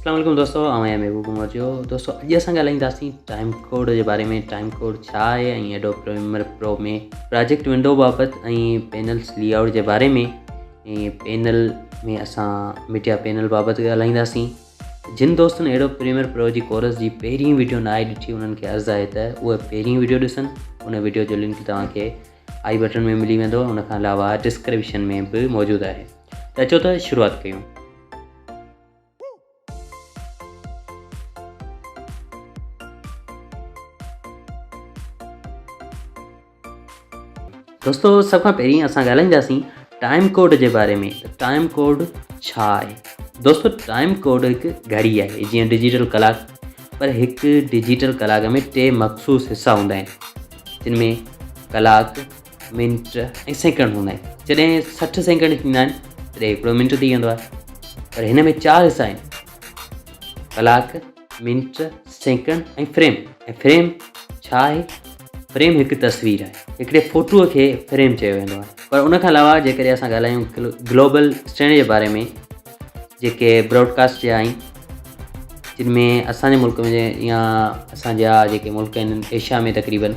اسلام عليڪم دوستو آئون آهيان محبوب عمر جو دوستو اڄ اسان ڳالهائينداسين ٽائيم ڪوڊ جي باري ۾ ٽائيم ڪوڊ ڇا آهي ۽ Adobe Premiere Pro ۾ project window بابت ۽ پينلس لي آؤٽ جي باري ۾ ۽ پينل ۾ اسان ميڊيا پينل بابت ڳالهائينداسين جن دوستن ايڊو پريمر پرو جي ڪورس جي پهرين ويڊيو نه آهي ڏٺي انهن کي عرض آهي ته اهي پهرين ويڊيو ڏسن ان ويڊيو جو لنڪ توهان کي آئي بٽن ۾ ملي ويندو ان کان علاوه ڊسڪرپشن ۾ به موجود آهي ته اچو ته شروعات ڪيون دوستو سڀ کان پهرين اسان ڳالهائينداسين ٽائم ڪوڊ جي باري ۾ ٽائم ڪوڊ ڇا آهي دوستو ٽائم ڪوڊ هڪ گهڙي آهي جيئن ڊجيٽل ڪلاڪ پر هڪ ڊجيٽل ڪلاڪ ۾ ٽي مخصوص حصا هوندا آهن جن ۾ ڪلاڪ منٽ ۽ سيڪنڊ هوندا آهن جڏهن سٺ سيڪنڊ ٿيندا آهن تڏهن هڪڙو منٽ ٿي ويندو آهي پر هن ۾ چار حصا آهن ڪلاڪ منٽ سيڪنڊ ۽ فريم ۽ فريم ڇا آهي فريم هڪ تصوير آهي هڪڙي فوٽوء کي فريم چيو ويندو آهي پر ان کان علاوه جيڪڏهن اسان ڳالهايون گلوبل اسٽينڊ جي باري ۾ جيڪي براڊڪاسٽ جا آهن جن ۾ اسانجي ملڪ ۾ يا اسانجا جيڪي ملڪ آهن ايشيا ۾ تقريبن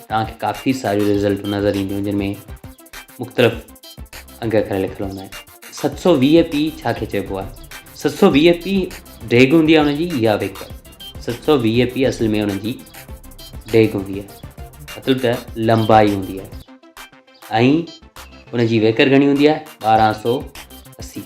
توهان کي ڪافي ساريون رزلٽون نظر اينديون جن ۾ مختلف انگ ڪري لکيل هوندا آهن ست سو ويهه پي ڇا کي چئبو آهي ست سو ويهه پي ڊيگهه هوندي آهي هنجي يا ويڪ ست سو ويهه پي اصل ۾ هن جي ڊيگهه هوندي آهي مطلب ته لمبائي هوندي آهي ۽ ان جي ويڪر گهڻي هوندي آهي ٻارهن سو اسي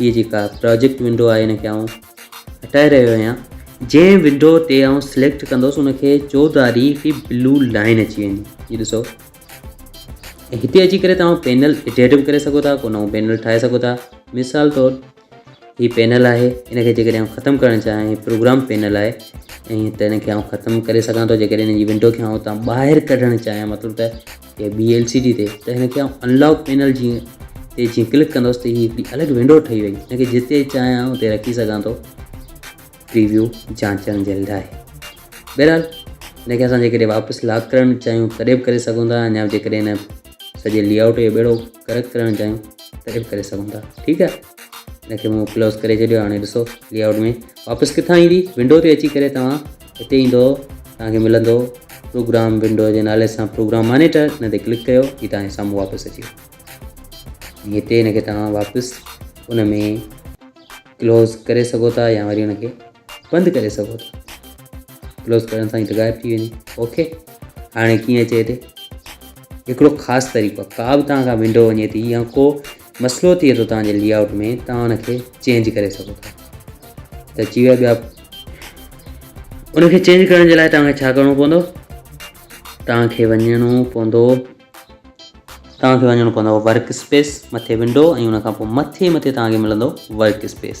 هيء جيڪا پراجيڪٽ ونڊو آهي ان کي آئون هٽائي رهيو آهيان. جنهن ونڊو تي آئون سليڪٽ ڪندس ان کي چوڌاري هڪڙي بلو لائن اچي ويندي هي ڏسو ۽ هتي اچي ڪري توهان پينل ايڊيٽ به ڪري سگهو ٿا ڪو نئون پينل ٺاهي سگهو ٿا مثال طور هي پينل آهي ان کي جيڪڏهن آئون ختم ڪرڻ چاهيان هي پروگرام پينل آهي ۽ ته ان کي آئون ختم ڪري سگهان ٿو جيڪڏهن ان جي ونڊو کي آئون تان ٻاهر ڪڍڻ چاهيان مطلب ته يا ٻي ايل سي ڊي تي ته هن کي آئون ان لاڪ پينل جي تي جيئن ڪلڪ ڪندس ته هي هڪڙي الڳ ونڊو ٺهي وئي هن کي جتي چاهيان اتي رکي سگهان ٿو پريويو جانچڻ جي لاء بهرحال هن کي اسان جيڪڏهن واپس لاڪ ڪرڻ چاهيون تڏهن به ڪري سگهون ٿا اڃا جيڪڏهن هن سڄي لي آؤٽ جو ٻيڙو گرڪ ڪرڻ چاهيون تڏهن به ڪري سگهون ٿا ٺيڪ آهي ان کي مون ڪلوز ڪري ڇڏيو هاڻي ڏسو لي آؤٽ ۾ واپس ڪٿان ايندي ونڊو تي اچي ڪري توهان هتي ايندو توهان کي ملندو پروگرام ونڊو جي نالي سان پروگرام مانيٽر ان تي ڪلڪ ڪيو هي توهان جي سامهون واپس اچي ويو هتي ان کي توهان واپس ان ۾ ڪلوز ڪري سگهو ٿا يا وري ان کي بند ڪري سگهو ٿا ڪلوز ڪرڻ سان هي غائب ٿي ويندي اوڪي هاڻي ڪيئن اچي هتي هڪڙو خاص طريقو ڪا به توهان کان ونڊو وڃي ٿي يا ڪو مسئلو ٿئي ٿو توهان جي لي آئوٽ ۾ توهان ان کي چينج ڪري سگهو ٿا ته اچي ويا ٻيا ان کي چينج ڪرڻ جي لاء توهان کي ڇا ڪرڻو پوندو توهان کي وڃڻو پوندو توهان کي وڃڻو پوندو ورڪ اسپيس مٿي ونڊو ۽ ان کان پوء مٿي مٿي توهان کي ملندو ورڪ اسپيس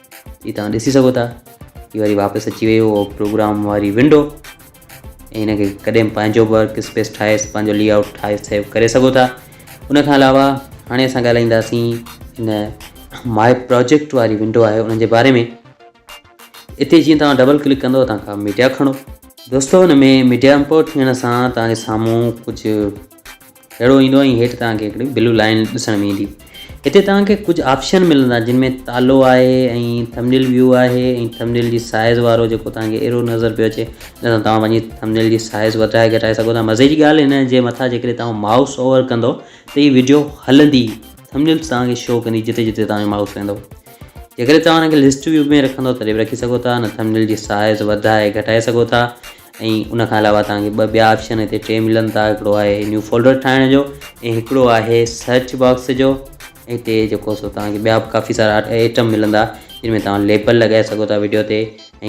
هي توهان ڏسي سگهو ٿا هي وري واپس اچي ويو اهو پروگرام واري ونڊو ۽ هن کي ڪڏهن پنهنجو ورڪ اسپيس ٺاهي پنهنجو لي آؤٽ ٺاهي سيو ڪري سگهو ٿا ان کان علاوه هاڻي اسان ڳالهائينداسين هن ماء پروجيڪٽ واري ونڊو آهي ان جي باري ۾ اتي جيئن توهان ڊبل ڪلڪ ڪندو توهان کان ميڊيا کڻو دوستو هن ۾ ميڊيا امپورٽ ٿيڻ سان توهان جي سامهون ڪجهه اهڙو ايندو ۽ هيٺ توهان کي هڪڙي بلو لائين ڏسڻ ۾ ايندي هتي توهان کي ڪجهه آپشن ملندا جن ۾ تالو آهي ۽ ٿمنيل ويو آهي ۽ ٿمنيل جي سائز وارو جيڪو توهان کي ايرو نظر پيو اچي ان سان توهان پنهنجي ٿمنيل جي سائز وڌائي گهٽائي سگهو ٿا مزي جي ڳالهه هن جي مٿان جيڪڏهن توهان مائوس اوور ڪندو ته هي وڊيو هلندي ٿمنيلز توهان کي شو ڪندي جتي جتي توهان جو مائوس ويندو جيڪڏهن توهان ان کي لسٽ ويو ۾ رکندو تڏهن به رکي سگهو ٿا نه ٿمنيل جي سائز وڌائي گهٽائي سگهو ٿا ۽ ان کان علاوه توهان کي ٻه ٻيا آپشن هتي ٽي ملن ٿا هڪڙو آهي نيو فولڊر ٺاهڻ جو ۽ هڪڙو آهي سرچ باڪس جو هتي جيڪو سو توهان کي ٻيا به ڪافي سارا آئٽم ملندا جن ۾ توهان ليبل لڳائي سگهو ٿا ويڊيو تي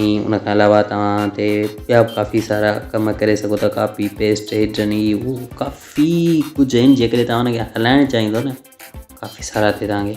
۽ ان کان علاوه توهان هتي ٻيا به ڪافي سارا ڪم ڪري سگهو ٿا ڪاپي پيسٽ هيڊن هي هو ڪافي ڪجهه آهن جيڪڏهن توهان هن کي هلائڻ چاهيندو نه ڪافي سارا هتي توهان کي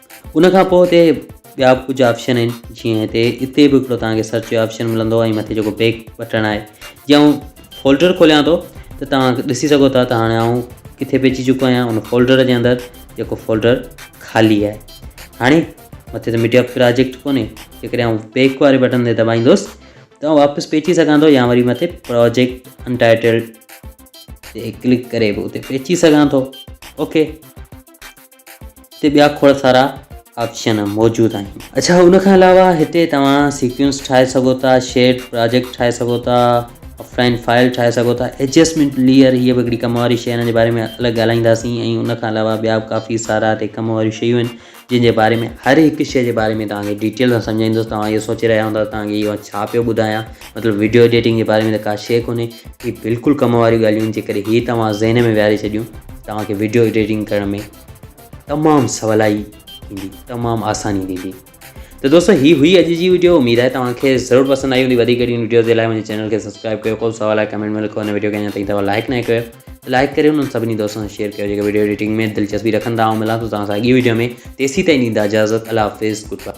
ان کان پوء اتي ٻيا به ڪجهه آپشن آهن جيئن هتي اتي به هڪڙو توهان کي سرچ جو آپشن ملندو ۽ مٿي جيڪو بيڪ بٽڻ آهي جي آئون فولڊر کوليان ٿو ته توهان ڏسي سگهو ٿا ته هاڻي آئون ڪٿي به اچي چڪو آهيان ان فولڊر جي اندر جيڪو فولڊر خالي آهي هاڻي مٿي ته ميڊيا پراجيڪٽ کوني جيڪڏهن آئون بيڪ واري بٽن تي دٻائيندوس ته آئون واپس به اچي سگهان ٿو يا وري مٿي پراجيڪٽ انٽائٽلڊ تي ڪلڪ ڪري به اتي به اچي سگهان ٿو اوڪي هتي ٻيا کوڙ سارا آپشن موجود آهن. اڇا ان کان علاوه هتي توهان سيڪوينس ٺاهي سگهو ٿا، شيڊ پراجيڪٽ ٺاهي سگهو ٿا، افلائن فائل ٺاهي سگهو ٿا، ايڊجسٽمينٽ ليئر هي به هڪڙي ڪم واري شيء ان جي باري ۾ الڳ ڳالهائينداسين ۽ ان کان علاوه ٻيا به ڪافي سارا هتي ڪم واريون شيون آهن جن جي باري ۾ هر هڪ شيء جي باري ۾ توهان کي ڊيٽيل سان سمجهائيندس توهان اهو سوچي رهيا هوندا ته توهان کي اهو ڇا پيو ٻڌايان. مطلب ويڊيو ايڊيٽنگ جي باري ۾ ته ڪا شيء ڪونهي هي بلڪل ڪم واريون ڳالهيون آهن جيڪڏهن هي توهان ذهن ۾ ويهاري ڇڏيون توهان کي ويڊيو ايڊيٽنگ ڪرڻ ۾ تمام سولائي ٿيندي تمام آساني ٿيندي ته دوستو هي هئي اڄ جي ويڊيو اميد آهي توهان کي ضرور پسند آئي هوندي وڌيڪ اهڙيون ويڊيوز جي لاء منهنجي چينل کي سبسڪرائب ڪيو ڪو سوال آهي ڪمينٽ ۾ لکو هن ويڊيو کي اڃا تائين توهان لائڪ نه ڪيو ته لائڪ ڪريو انهن سڀني دوستن سان شيئر ڪيو جيڪي ويڊيو ايڊيٽنگ ۾ دلچسپي رکن ٿا آئون ملان ٿو توهان سان اڳي ويڊيو ۾ تيسي تائين ڏيندا اجازت الله حافظ گڊ باء